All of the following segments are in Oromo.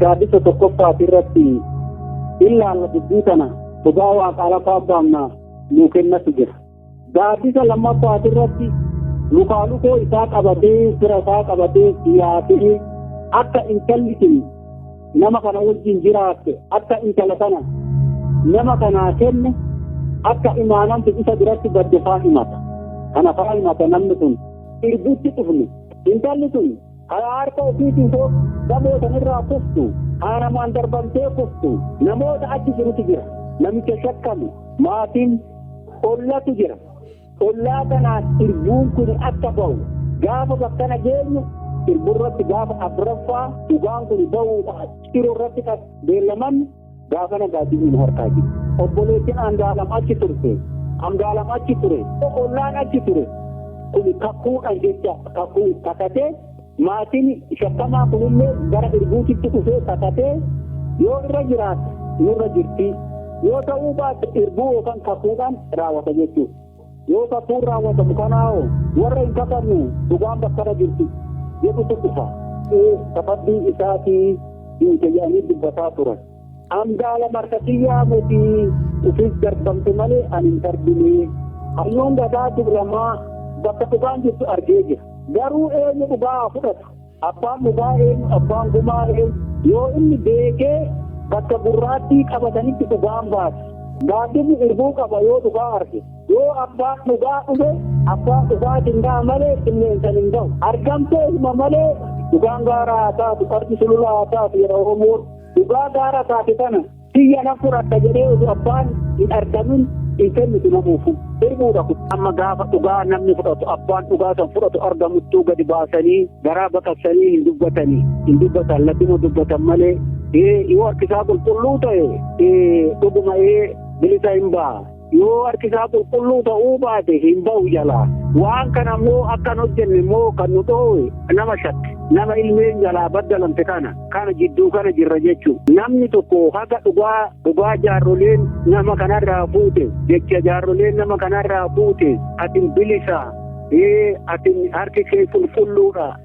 gaaddisa tokkoffaati irratti ilaalla dubbii kana dhugaa waaqaa lafaa baamna nuu kennatu jira. Gaaddisa lammaffaati irratti lukaa lukoo isaa qabatee fira isaa qabatee siyaasee akka intalli kun nama kana wajjin jiraatte akka intala kana nama kanaa kenne akka imaanamtu isa biratti badde faa himata kana faa himata namni sun irbutti dhufne intalli sun karaa harka ofiitiin soo gamoo sanirraa kuftu haa namaan darbamtee kuftu namoota achi jirutu jira namicha shakkamu maatiin ollatu jira Ollaa kanaas irbuun kun akka ba'u gaafa bakkana geenyu irburratti gaafa afraffaa dhugaan kun ba'uudhaaf ciroo irratti kan beellaman gaafa nagaatiin nu harkaa jiru. Obboleettiin Andaalam achi turte. Andaalam achi ture. Ollaan achi ture. Kun kakuudhaan jecha kakuu kakatee Maatiin shakkamaa kunillee gara Irbuutitti dhufee kakatee yoo irra jiraate nurra jirti, yoo ta'uu baatte irbuu yookaan kakuudhaan raawwata jechuudha. Yoo kakuun raawwatamu kanaahoo warra hin kakannu dhugaan bakkarra jirti jedhutu dhufa. Ee sababii isaatii duute jedhanii dubbataa turan. An gaala markati yaamuti ufis darbamtu male an hin darbine. Hayyuun gadaa Tuulamaa bakka dhugaan jirtu argee jira. Garuu eenyu dhugaa haa fudhatu? Abbaan dhugaa eenyu? Abbaan gumaa eenyu? Yoo inni beekee bakka gurraattii qabatanitti dhugaan baati. Gaaddisni irbuu qaba yoo dhugaa arge. Yoo abbaan dhugaa dhufe abbaan dhugaatiin ga'a malee qilleensan hin ga'u. Argamtee hima malee dhugaan gaara haa taatu, qarqi sulula haa taatu jedha Oromoon. Dhugaa gaara taate tana tiyya nan fudhadha jedhee osoo abbaan hin argamin hin kennitu namuufu. Irbuudha kun. Amma gaafa dhugaa namni fudhatu abbaan dhugaa san fudhatu argamuttuu gadi baasanii garaa baqassanii hin dubbatanii hin dubbatan ladduma dubbatan malee yoo harkisaa qulqulluu ta'e dhuguma bilisa hin ba'a. Yoo harki isaa qulqulluu ta'uu baate hin ba'u jalaa. Waan kana immoo akka hin hojjenne immoo kan nu dhoowwe nama shakke. Nama ilmeen jalaa baddalamte kana kana jidduu kana jirra jechuu. Namni tokko haga dhugaa dhugaa jaarroleen nama kanarraa fuute jecha jaarroleen nama kanarraa fuute atin bilisa ee atin harki kee qulqulluudha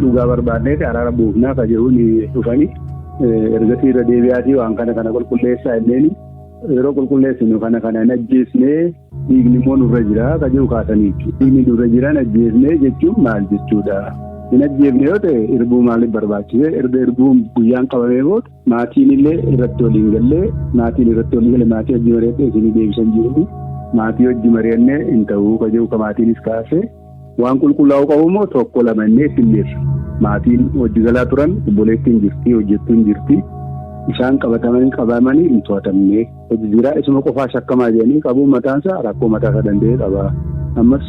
Dhugaa barbaadneeti araara buufnaa ka jedhuun dhufanii ergasii irra deebi'aatii waan kana kana qulqulleessaa illeen yeroo qulqulleessinu kana kana hin ajjeesnee dhiigni immoo nurra jira ka jedhu kaasanii jechuudha. Dhiigni nurra jiran ajjeesnee jechuun maal jechuudha? Hin ajjeefne yoo ta'e irbuu maaliif barbaachise? Erga irbuun guyyaan qabamee booda maatiin illee irratti waliin gallee maatiin irratti waliin galee maatii hojii mari'attee isinii deebisan jiru. Maatii hojii mari'annee hin ta'uu ka jedhu ka maatiinis kaasee Waan qulqullaa'uu qabu immoo tokko lama inni eessinneerra. Maatiin hojii galaa turan obboleettiin jirti, hojjettuun jirti. Isaan qabatamanii qabamanii hin to'atamne. Hojii jiraa isuma qofaa shakkamaa jedhanii qabuun mataansaa rakkoo mataasaa danda'e qaba. Ammas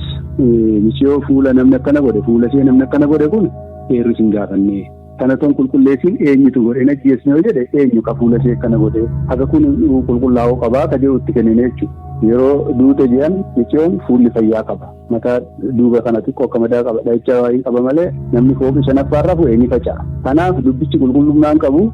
misiyoo fuula namni akkana godhe fuula ishee namni akkana godhe kun eerris hin gaafanne. Tana ton qulqulleessiin eenyutu godhe hin ajjeesne yoo jedhe eenyu ka fuula ishee akkana godhe haga kun qulqullaa'uu qabaa ka jedhu itti kennine jechuudha. Yeroo duute je'an miciyoon fuulli fayyaa qaba. Mataa duuba kana xiqqoo akka madaa qaba dha'icha waayii qaba malee namni fooqii shanaffaan rafu ni faca'a. Kanaaf dubbichi qulqullummaan qabu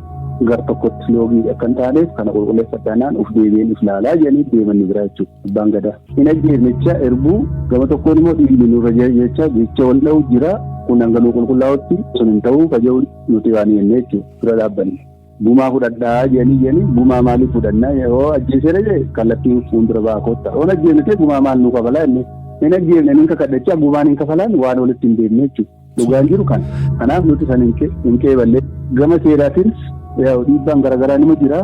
gar tokkotti loogii akka hin taaneef kana qulqulleeffadhaanaan uf deebi'een if laalaa jedhanii deeman ni biraa jechuudha. Abbaan Gadaa. Hin ajjeefnechaa erbuu gama tokkoon immoo dhiigni nurra jechaa jecha wal dha'u jira. Kun hanga nu qulqullaa'utti sun hin ta'uu kaja'u nuti waan jennee jechuudha. Dura dhaabbanne. Gumaa fudhadhaa jedhanii jedhanii gumaa maaliif fudhannaa yoo ajjeesera jee kallattiin fuuldura ba'aa kootta. Oon ajjeefne ta'e gumaa maal nu kabalaa inni. Hin ajjeefne inni kakadhachaa gumaan hin kafalaan waan walitti hin deemne jechuudha. Dhugaan jiru kana. Kanaaf nuti kan hin qeeballe. Gama seeraatiinis dhiibbaan garaagaraa nima jira.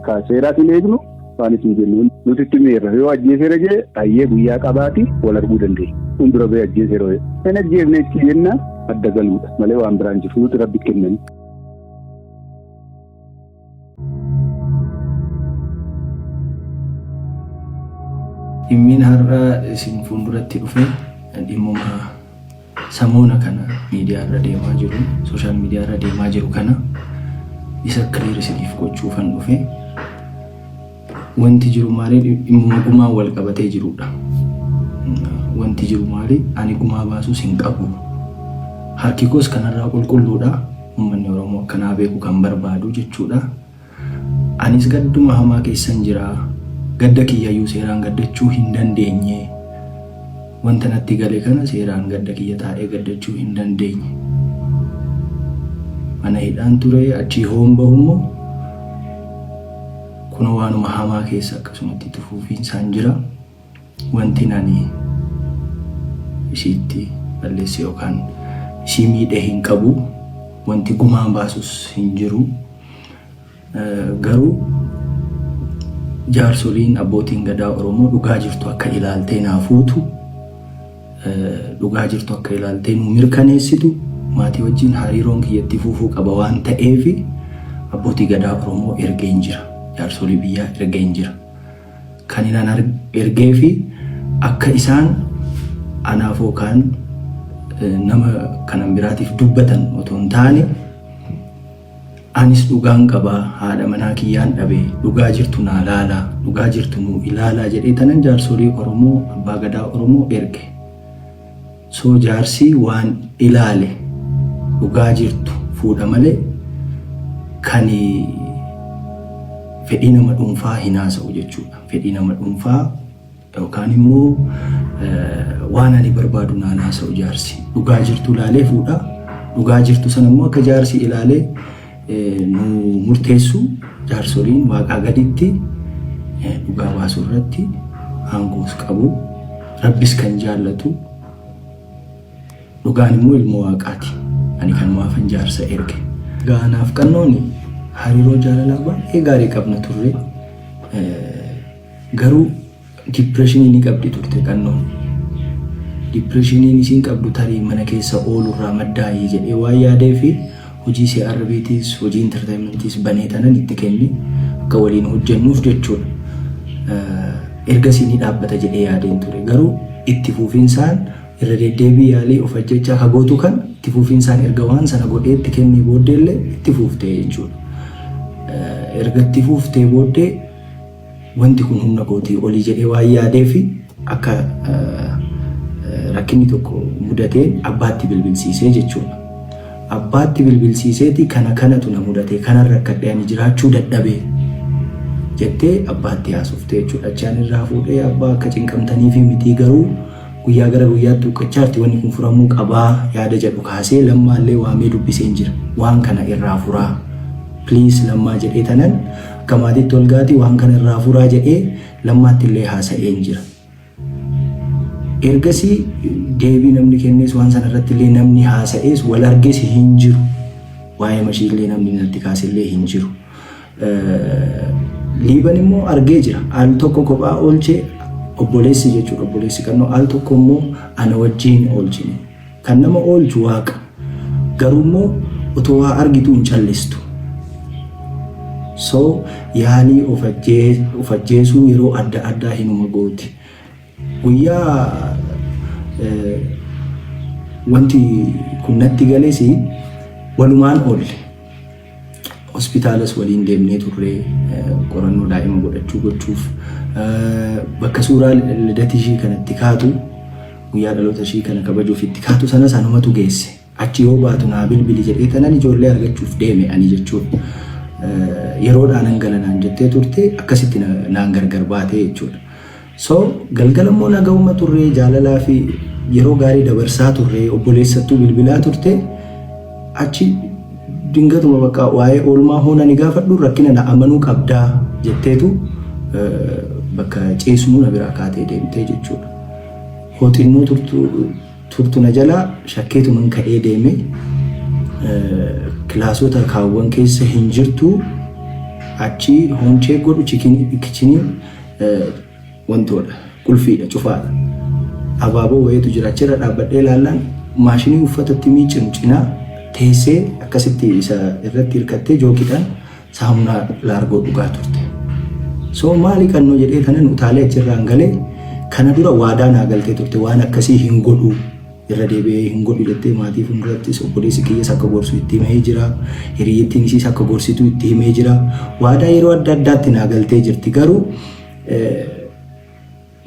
Kan seeraas hin eegnu waan isin jennu nuti itti miirra yoo ajjeeseera jee hayyee guyyaa qabaati wal arguu dandeenya. Kun dura bee ajjeeseera yoo hin ajjeefne itti jenna adda galuudha malee waan biraan jiru nuti rabbi kennani. Dhimmiin har'a isin fuulduratti dhufe dhimmuma samoona kana miidiyaa irra deemaa jiru, sooshaal miidiyaa irra deemaa jiru kana isa kiliir isiniif gochuufan dhufe. Wanti jiru maali? Dhimmuma gumaan wal qabatee jirudha. Wanti jiru maali? Ani gumaa baasuus hin qabu. Harki koos kanarraa qulqulluudha. Uummanni Oromoo akkanaa beeku kan barbaadu jechuudha. Anis gadduma hamaa keessan jira. Gadda kiyyayyuu seeraan gaddachuu hin dandeenye. Wanta natti gale kana seeraan gadda kiyya taa'ee gaddachuu hin dandeenye. Mana hidhaan ture achii hoon bahummoo Kunoo waanuma hamaa keessa akkasumatti itti fufiinsaan jira. Wantin ani isiitti balleesse yookaan isii miidhe hin qabu. Wanti gumaan baasus hin jiru. Garuu jaarsoliin abbootiin gadaa Oromoo dhugaa jirtu akka ilaaltee naa fuutu dhugaa jirtu akka ilaaltee nuu mirkaneessitu maatii wajjin hariiroon kiyya itti fufuu qaba waan ta'eef abbootii gadaa Oromoo ergeen jira. Jaarsolii biyyaa ergeen jira. Kan inaan ergee fi akka isaan anaaf yookaan nama kanan biraatiif dubbatan otoo hin taane Anis dhugaan qaba haadha manaa kiyyaan dhabe dhugaa jirtu naa laalaa dhugaa jirtu nuu ilaalaa jedhee tanan jaarsolii oromoo abbaa gadaa oromoo erge soo jaarsii waan ilaale dhugaa jirtu fuudha malee kani fedhii nama dhuunfaa hin haasa'u jechuudha fedhii nama dhuunfaa Yookaan immoo waan ani barbaadu naan haasa'u jaarsi. Dhugaa jirtu ilaalee fuudha. Dhugaa jirtu sana immoo akka jaarsi ilaalee nu murteessu jaarsoliin waaqaa gaditti dhugaa baasuu irratti aangoos qabu. Rabbis kan jaallatu dhugaan immoo ilmoo waaqaati. Ani kan maafan jaarsa erge. Gaanaaf qannooni hariiroo jaalalaa baay'ee gaarii qabna turre. Garuu dipireeshinii ni qabdi turte Qannoon. Dipireeshiniin isiin qabdu tarii mana keessa oolurraa maddaayi jedhee waan yaadeef hojii CRBtis hojii intartayimentiis banee tanan itti kenni akka waliin hojjennuuf jechuudha. Ergasii ni dhaabbata jedhee yaadeen ture. Garuu itti fuufinsaan irra deddeebii yaalii of ajjechaa ka gootu kan itti fuufinsaan erga waan sana godhee itti kennee booddeellee itti fuuftee jechuudha. Erga itti fuuftee booddee wanti kun humna kootii olii jedhee waan yaadeef akka rakkinni tokko mudateen abbaatti bilbilsiisee jechuudha. Abbaatti bilbilsiiseeti kana kanatu na mudatee kanan rakkadhee ani jiraachuu dadhabee jettee abbaatti haasofte jechuudha. Achaan irraa fuudhee abbaa akka cinqamtanii fi mitii garuu guyyaa gara guyyaatti huqqachaarti wanni kun furamuu qabaa yaada jedhu kaasee lammaallee waamee dubbiseen jira. Waan kana irraa furaa. Please lammaa jedhee tanan Akka maatiitti Olgaatii waan kana irraa furaa jedhee Lammaatti illee haasa'een jira. Ergasii deebii namni kennees waan sana irratti illee namni haasa'ees wal arges hin jiru. Waa'ee mashii illee namni natti kaase illee hin jiru. Liiban immoo argee jira. Al tokko kophaa oolchee obboleessi jechuudha obboleessi kannoo al tokko immoo ana wajjin oolchine. Kan nama oolchu Waaqa. Garuummoo otoo waa argituu hin callistu. So yaalii of ajjeesuu yeroo adda addaa hinuma gooti. Guyyaa wanti kun natti gales walumaan oolle. hospitaalas waliin deemnee turree qorannoo daa'ima godhachuu gochuuf bakka suuraa lidatii ishii kanatti kaatu guyyaa dhaloota ishii kana kabajuuf itti kaatu sana sanumatu geesse. Achi yoo baatu naa bilbili jedhee tanan ijoollee argachuuf deeme ani jechuudha. Yeroodhaan hangalanaan jettee turte akkasitti naan gargar baatee jechuudha. So galgala immoo nagahuma turree jaalalaa fi yeroo gaarii dabarsaa turree obboleessattuu bilbilaa turte achi dingatuma bakka waa'ee oolmaa hoona ni gaafadhu rakkina na amanuu qabdaa jetteetu bakka ciisnu na biraa kaatee deemtee jechuudha. Hooxinnoo turtu na jalaa shakkeetuman ka'ee deeme kilaasota kaawwan keessa hin jirtu achi hoonchee godhu kichinii wantoodha. Qulfiidha, cufaadha. Abaaboo wayiitu jira. Achirra dhaabbadhee ilaallaan maashinii uffata itti miiccinu cinaa teessee akkasitti isa irratti hirkattee jookiidhaan saamunaa laargoo dhugaa turte. So maali kannoo jedhee kanan utaalee achirraan galee kana dura waadaa naa galtee turte waan akkasii hin godhuu. Irra deebi'ee hin godhu jettee maatii fuuldurattis obboleessi kiyyas akka gorsu itti himee jira. Hiriyyittiin isiis akka gorsitu itti himee jira. Waadaa yeroo adda addaatti naa galtee jirti. Garuu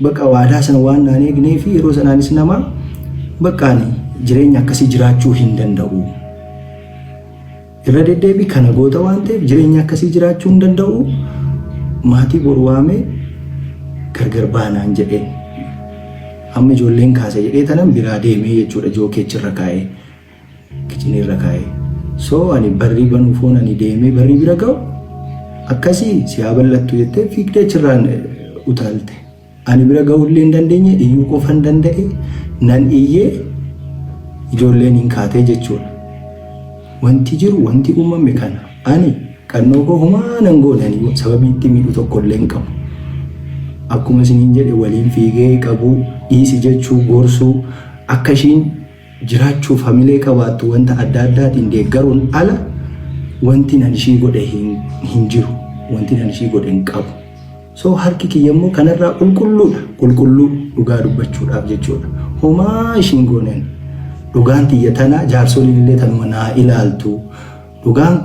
bakka waadaa sana waan naan eegnee fi yeroo sanaanis nama bakka ani jireenya akkasii jiraachuu hin danda'u. Irra deddeebii kana goota waan ta'eef jireenya akkasii jiraachuu hin danda'u. Maatii boru waamee gargar baanaan jedhee amma ijoolleen kaasa jedhee tanan biraa deemee jechuudha jookeechi irra kaa'ee kicinii irra kaa'ee. So ani barrii banuu foon ani deemee barrii bira ga'u akkasii si haa bal'attu jettee fiigdee achirraan utaalte. Ani bira ga'uullee hin dandeenye iyyuu qofan danda'e nan iyyee ijoolleen hin kaatee jechuudha. Wanti jiru wanti uumame kana ani qannoo koo humaa nan goonanii sababii itti miidhu tokkollee hin qabu. Akkuma isiniin jedhe waliin fiigee qabuu dhiisi jechuu gorsuu akka ishiin jiraachuuf hamilee qabaattu wanta adda addaatiin deeggaruun ala wanti nan ishii godhe hin jiru. Wanti nan ishii godhe hin qabu. So harki kiyya immoo kanarraa qulqulluudha. Qulqulluu dhugaa dubbachuudhaaf jechuudha. Homaa ishiin gooneen dhugaan tiyya tana jaarsoliin illee tanuma naa ilaaltu. Dhugaan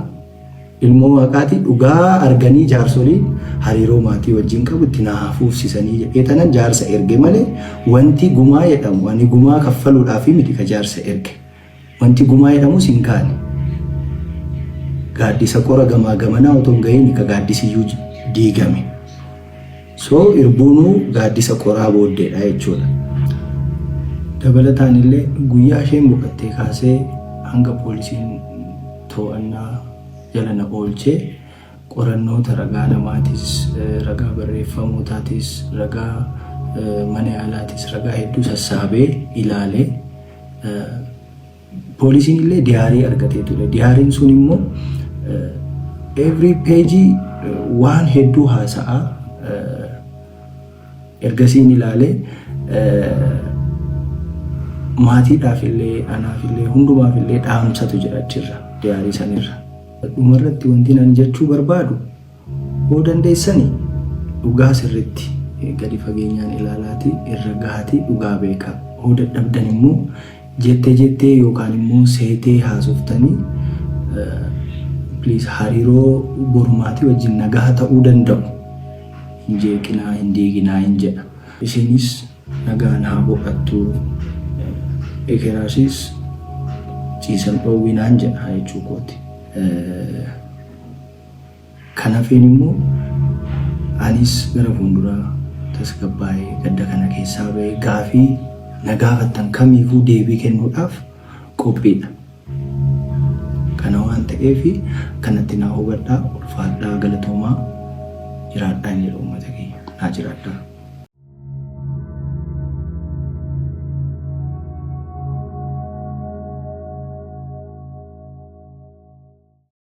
Ilmoo Waaqaati dhugaa arganii jaarsoliin hariiroo maatii wajjin qabu itti naa haa fuufsisanii jedhee tanan jaarsa erge malee wanti gumaa jedhamu ani gumaa kaffaluudhaafi miti ka jaarsa erge. Wanti gumaa jedhamus hin kaane. Gaaddisa qora gamaa gamanaa otoo hin gahiini ka gaaddisiyyuu diigame. So irbuunuu gaaddisa qoraa booddeedha jechuudha. Dabalataanillee guyyaa isheen boqattee kaasee hanga poolisiin to'annaa jala na oolche qorannoota ragaa namaatis, ragaa barreeffamootaatis, ragaa mana yaalaatis, ragaa hedduu sassaabee ilaale. Poolisiin illee diyaarii argatee ture. Diyaariin sun immoo every page waan hedduu haasa'a. Ergasii ni ilaalee maatiidhaaf illee anaaf illee hundumaaf illee dhaamsatu jira achirra diyaarii sanirra. Dhumarratti wanti ani jechuu barbaadu Yoo dandeessani dhugaa sirriitti gadi fageenyaan ilaalaati irra gahaati dhugaa beekaa. Yoo dadhabdan immoo jette jettee yookaan immoo seetee haasoftanii please hariiroo borumaatii wajjin nagaha ta'uu danda'u hin jeeqinaa hin diiginaa hin jedha. Isiinis nagaan haa boqattu ekeraasiis ciisan dhoowwinaan jedha jechuu kooti. Kan hafeen immoo anis gara fuulduraa tasgabbaa'ee gadda kana keessaa ba'ee gaafii na gaafattan kamiifuu deebii kennuudhaaf qophiidha. Kana waan ta'eef kanatti naa hubadhaa ulfaadhaa galatoomaa jiraadhaa jedha uummata keenya naa jiraadhaa.